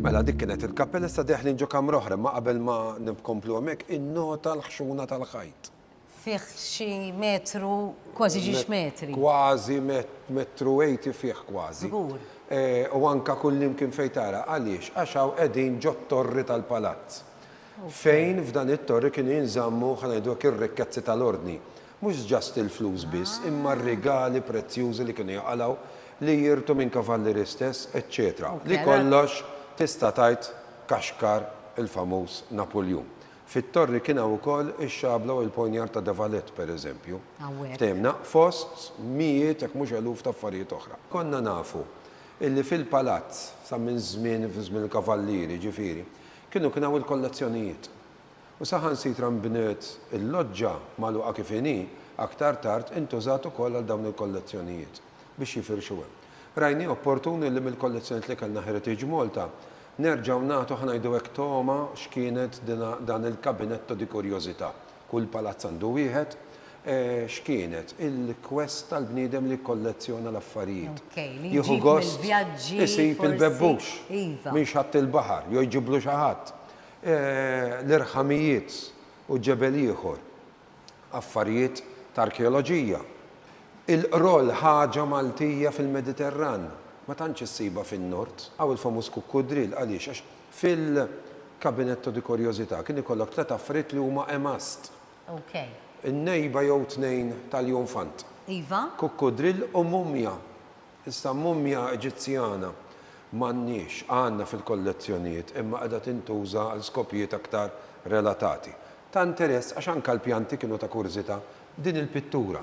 Mela dik kienet il-kappella issa deħlin ġo kamra oħra imma qabel ma nkomplu hemmhekk innota l-ħxuna tal-ħajt. Fih xi metru kważi ġiex metri. Kważi metru eighty fih kważi. Żgur. U anke kullimkien fejn tara. Għaliex? Għax hawn qegħdin ġot-torri tal-palazz. Fejn f'dan it-torri kienu jinżammu, ħa ngħidu hekk, ir-rikkezzi tal-Ordni. Mhux just il-flus biss, imma r-rigali prezzjużi li kienu jaqalgħu, li jirtu minn kavallieri stess, eċċetera Li kollox tista' tgħid kaxkar il-famuż Napuljun. Fit-Torri kien hawn ukoll ix-xabla u l-poniard ta' De Valette, pereżempju. Fhimna? Fost mijiet jekk mhux eluf ta' affarijiet oħra. Konna nafu illi fil-palazz, sa minn żmien, fi żmien il-kavallieri, jiġifieri, kienu kien hawn il-kollezzjonijiet. u saħansitra nbniet il-loġġa magħluqa kif inhi, aktar tard intużat ukoll għal dawn il-kollezzjonijiet biex jifirxu hemm. Rajnieh opportun li mill-kollezzjonijiet li kellna Heritage Malta nerġgħu nagħtu, ħa ngħidu hekk, togħma x'kienet dan il-cabinetto di curiosità, kull palazz għandu wieħed, x'kienet il-quest tal-bniedem li jikkollezzjona l-affarijiet. Jieħu gost isib il-bebbux minn xatt il-baħar jew jġiblu xi ħadd. l-irħamijiet u ġebel ieħor, affarijiet t'arkeoloġija. Il-qroll ħaġa Maltija fil-Mediterran, ma tantx issibha fin-Nord. Hawn il-famuż kukkudrill, għaliex? Għax fil-cabinetto di curiosità kien ikollok tliet affarijiet li huma a must. In-nejba jew tnejn tal-jonfant. Iva. Kukkudrill u mumja. Issa mummja Eġizzjana m'għandniex, għandna fil-kollezzjonijiet imma qiegħda tintuża għal skopijiet aktar relatati. Ta' interess għax anke l-pjanti kienu ta' kurżità. Din il-pittura,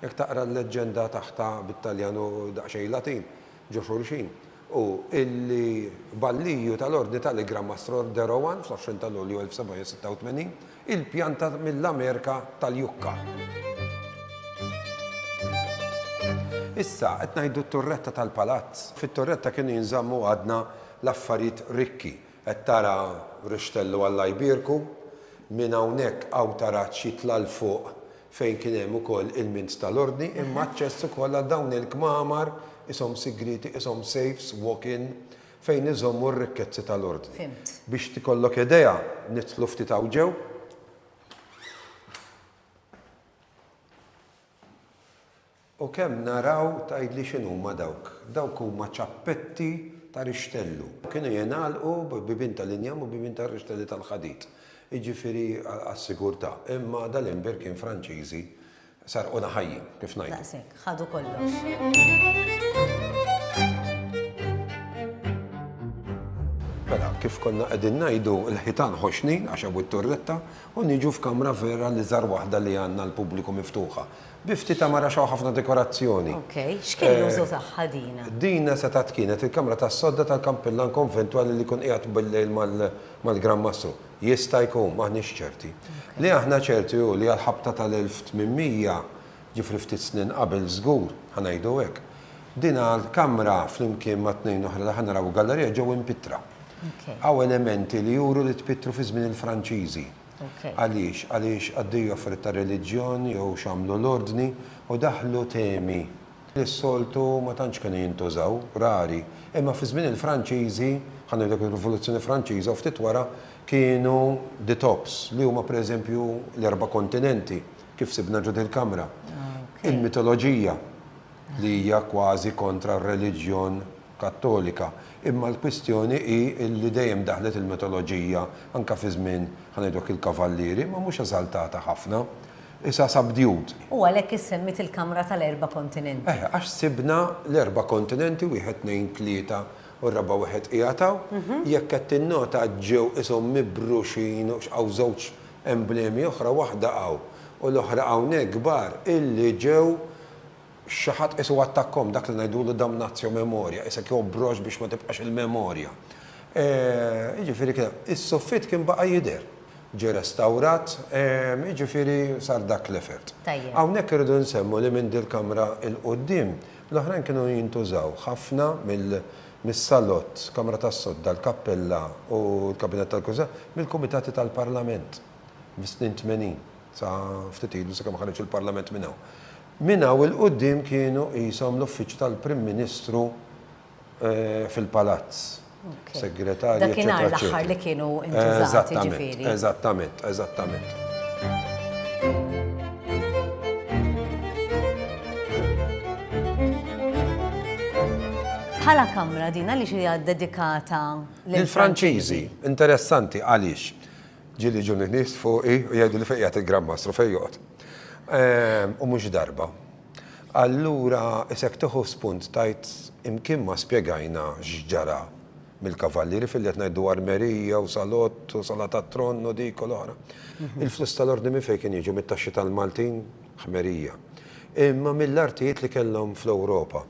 jekk taqra l-leġġenda taħtha bit-Taljan u daqsxejn Latin ġo xulxin, hu illi Balliju tal-Ordni tal-Igra Mastror Derowan fl-20 ta' Lulju 1786, Il-pjanta mill-Amerika tal-Jukka. Issa, qed ngħidu t-turretta tal-palazz. Fit-turretta kienu jinżammu għadna l-affarijiet rikki. Qed tara rixtellu Alla jbierku. Minn hawnhekk hawn taraġġ jitla' 'l fuq fejn kien hemm ukoll ilmint tal-Ordni imma aċċess ukoll għal dawn il-kmamar qishom sigrieti, qishom safes, walk-in. fejn iżommu r-rikkezzi tal-Ordni. Fhimt. Biex tikollok idea, nidħlu ftit hawn ġew. U kemm naraw tgħidli x'inhuma dawk. Dawk huma ċappetti ta' rixtellu. Kienu jingħalqu b'bibien tal-injam u bibien tar-rixtelli tal-ħadid, jiġifieri għas-sigurtà. Imma dal-imbir kien Franċiżi Sarquna ħajjin, kif ngħidu. Daqshekk, ħadu kollox. Mela, kif konna qegħdin ngħidu l-ħitan ħoxni għax hawn it-turretta u niġu f'kamra vera li żar waħda li għandna l-pubbliku miftuħa. Bifti ta' mara xaw ħafna dekorazzjoni. Ok, x'kien eh, użu tagħha dina? Dina se tat kienet il-kamra tas-sodda tal-kampillan konventwali li kun qiegħed bil-lejl mal-Gran Mastru. Jista' jkun, m'aħniex ċerti. Li aħna ċerti hu li għall-ħabta tal-1800, ġifieri ftit snin qabel żgur, ħa ngħidu hekk, din l-kamra flimkien ma' tnejn oħra li ħa naraw f'gallerija ġew impitttra. Hawn elementi li juru li tpittru fi żmien il-Franċiżi. Għaliex? Għaliex qaddejja offretta reliġjon jew x'għamlu l-ordni u daħħlu temi li s-soltu ma tantx kienu jintużaw, rari, imma fi żmien il-Franċiżi, bħal ngħidu hekk ir-Rivoluzzjoni Franċiża u ftit wara, kienu the tops, li huma pereżempju l-erba' kontinenti, kif sibna ġo dil-kamra. Il-mitoloġija, li hija kważi kontra r-reliġjon Kattolika, imma l-kwistjoni hi li dejjem daħlet il-mitoloġija anke fi żmien, bħal ngħidu hekk, il-Kavallieri, imma mhux eżaltata ħafna. Isa subdued. U għalhekk issemmiet il-kamra tal-erba' kontinenti. Eh, għax sibna l-erba' kontinenti, wieħed, tnejn, tlieta, u r-raba' wieħed qiegħed hawn. Jekk qed tinnota ġew ishom mibruxin u hawn żewġ emblemi oħra, waħda hawn u l-oħra hawnhekk kbar, illi ġew Xi ħadd qisu attakkahom dak li ngħidulu damnatio memoriae, qisek jobrox biex ma tibqax il-memorja. E, jiġifieri kien hemm. Is-suffitt kien baqa' jidher. Ġie restawrat, e, jiġifieri sar dak l-effort. Tajjeb. Hawnhekk irridu nsemmu li minn dil-kamra 'l quddiem, l-oħrajn kienu jintużaw ħafna mill, mis-salott, kamra tas-sodda, l-kappella u l-kabinett tal-Kunsill, mill-kumitati tal-Parlament fis-snin tmenin, sa ftit ilu sakemm ħareġ il-Parlament minn hawn. Minn hawn 'il quddiem kienu qishom l-uffiċċju tal-Prim Ministru fil-Palazz, Segretarji, eċċetera. Dakinhar l-aħħar li kienu ntużat, jiġifieri. Eżattament, eżattament, eżattament. Bħala kamra din għaliex hija ddedikata lill-Franċiżi? Lill-Franċiżi. Interessanti għaliex? Ġieli jiġuni nies fuqi u jgħiduli fejn qiegħed il-Gran Mastru, fejn joqgħod. U mhux darba. Allura issa jekk tieħu spunt tgħid imkien ma spjegajna x'ġara mill-Kavallieri filli qed ngħidu Armerija u Salott u Sala tat-Tronn u dik u l-oħra. Il-flus tal-Ordni minn fejn kien jiġu, mit-taxxi tal-Maltin? Ħmerija. Imma mill-artijiet li kellhom fl-Ewropa.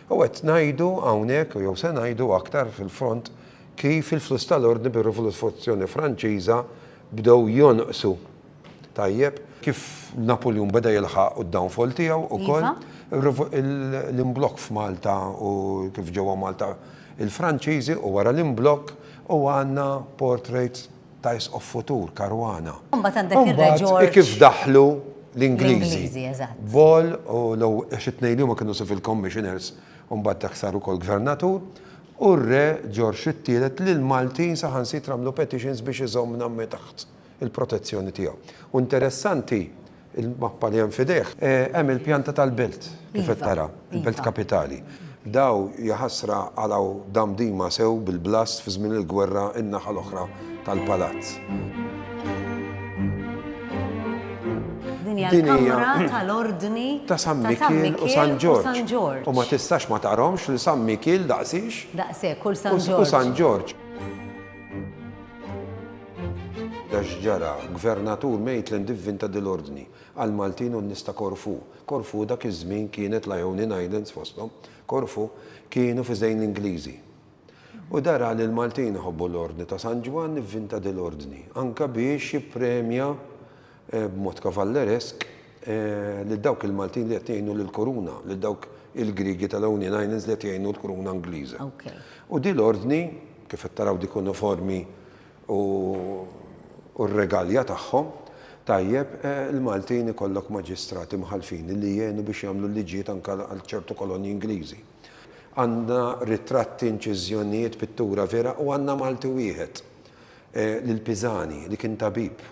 U qed ngħidu hawnhekk jew se ngħidu aktar fil-fond Kif il-fluss tal-ordni bir-Rivoluzzjoni Franċiża bdew jonqsu. Tajjeb? Kif Napuljun beda jilħaq d-downfall tiegħu wkoll. L-imblokk f'Malta u kif ġew għand Malta l-Franċiżi u wara l-imblokk u għandna portrait ta' Isqof futur, Caruana. U mbagħad għandek ir-Re Ġorġ. U mbagħad kif daħlu l-Ingliżi. L-Ingliżi, eżatt. Ball u għax it-tnejn li huma kienu civil commissioners u mbagħad dak sar ukoll gvernatur. u r-Re Ġorġ it-Tielet li l-Maltin saħansitra għamlu petitions biex iżomm Nammi taħt il-protezzjoni tiegħu. U interessanti, il-mappa li hemm f'idejh, hemm il-pjanta tal-belt kif qed tara, il-belt kapitali. Daw, jaħasra, qalgħu Damdima sew bil-blast fi żmien il-gwerra in-naħa l-oħra tal-palazz. Din hija l-kamra tal-ordni ta' San Mikil u San Ġorġ. U ma tistax ma tarhomx li San Mikil daqsix. Daqsek, kull San Ġorġ. U San Ġorġ. Dax ġara, gvernatur Maitland divvinta dil-ordni għal Maltin u nista Korfu. Korfu dak iż-żmien kienet l-Ionian Islands fosthom. Korfu kienu fi żejn l-Ingliżi. U dara li l-Maltin iħobbu l-Ordni ta' San Ġwann ivvinta dil-Ordni, anke biex jippremja b'mod kavalleresk lil dawk il-Maltin li qed jgħinu lill-Kuruna, lil dawk il-Griegi tal-Ionian Islands li qed jgħinu l-Kuruna Ingliża. U din l-Ordni, kif qed taraw dik uniformi u r-regalja tagħhom, tajjeb il-Maltin ikollok maġistrati mħallfin li jgħinu biex jagħmlu l-liġijiet anke għal ċertu kolonji Ingliżi. Għandna ritratti, inċiżjonijiet, pittura vera u għandna Malti wieħed, lil Pisani, li kien tabib.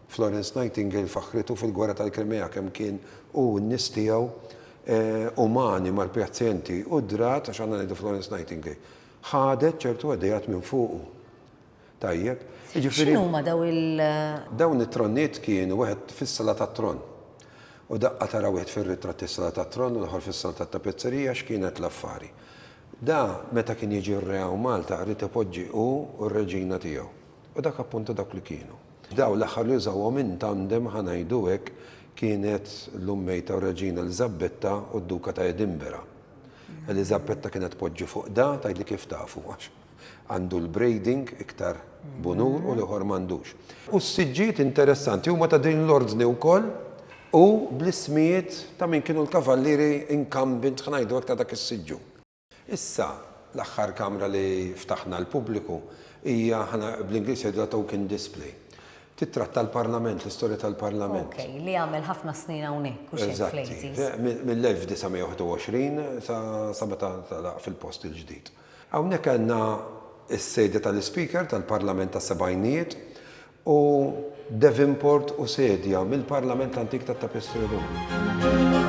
Florence Nightingale faħħritu fil-Gwerra tal-Krimea kemm kien hu u n-nies tiegħu umani mal-pjazjenti u d-drat, għax għandna ngħidu Florence Nightingale, ħadet ċertu ideat minn fuqu. Tajjeb, jiġifieri. X'inhuma dawn il. Dawn it-tronnijiet kienu wieħed fis-Sala tat-Tron. U daqqa tara wieħed fir-ritratt is-Sala tat-Tron u l-oħor fis-Sala tat-Tapezzerija x'kienet l-affari. Da meta kien jiġi r-Re hawn Malta qrid ipoġġi hu u r-Reġina tiegħu. U dak appuntu dawk li kienu. Dawn l-aħħar li użawhom in tandem ħa ngħidu hekk kienet l-Ummejta u r-Reġina Eliżabbetta u d-Duka ta' Edinbera. Eliżabbetta kienet tpoġġi fuq da, tgħidli kif tafu għax. għandu l-braiding iktar b'unur u l-ieħor m'għandux. U s-siġġijiet interessanti huma ta' din l-ordni wkoll u bl-ismijiet ta' min kienu l-kavallieri incumbent ħnajdu hekk ta' dak is-siġġu. Issa, l-aħħar kamra li ftaħna għall-pubbliku hija bl-Ingliż jgħidulha token display. Tittratta l-Parlament, l-istorja tal-Parlament. Ok, li għamel ħafna snin hawnhekk u xejn fl-80s. Mill-1921 sa meta ntalaq fil-post il-ġdid. Hawnhekk għandna s-sejda tal-Ispeaker tal-Parlament tas-sebgħinijiet u Devonport u sedja mill-Parlament l-antik tat-Tapestry Room.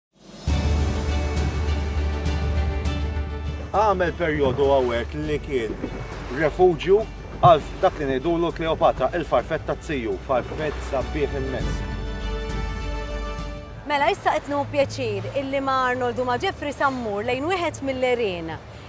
Għamel perjodu għawek li kien refuġju għal dak li ngħidulu Kleopatra, il-farfett ta' ziju, farfett sabbieħ immens. Mela issa qed pjaċir illi ma' Arnold u ma' Jeffrey Sammur lejn wieħed mill-erien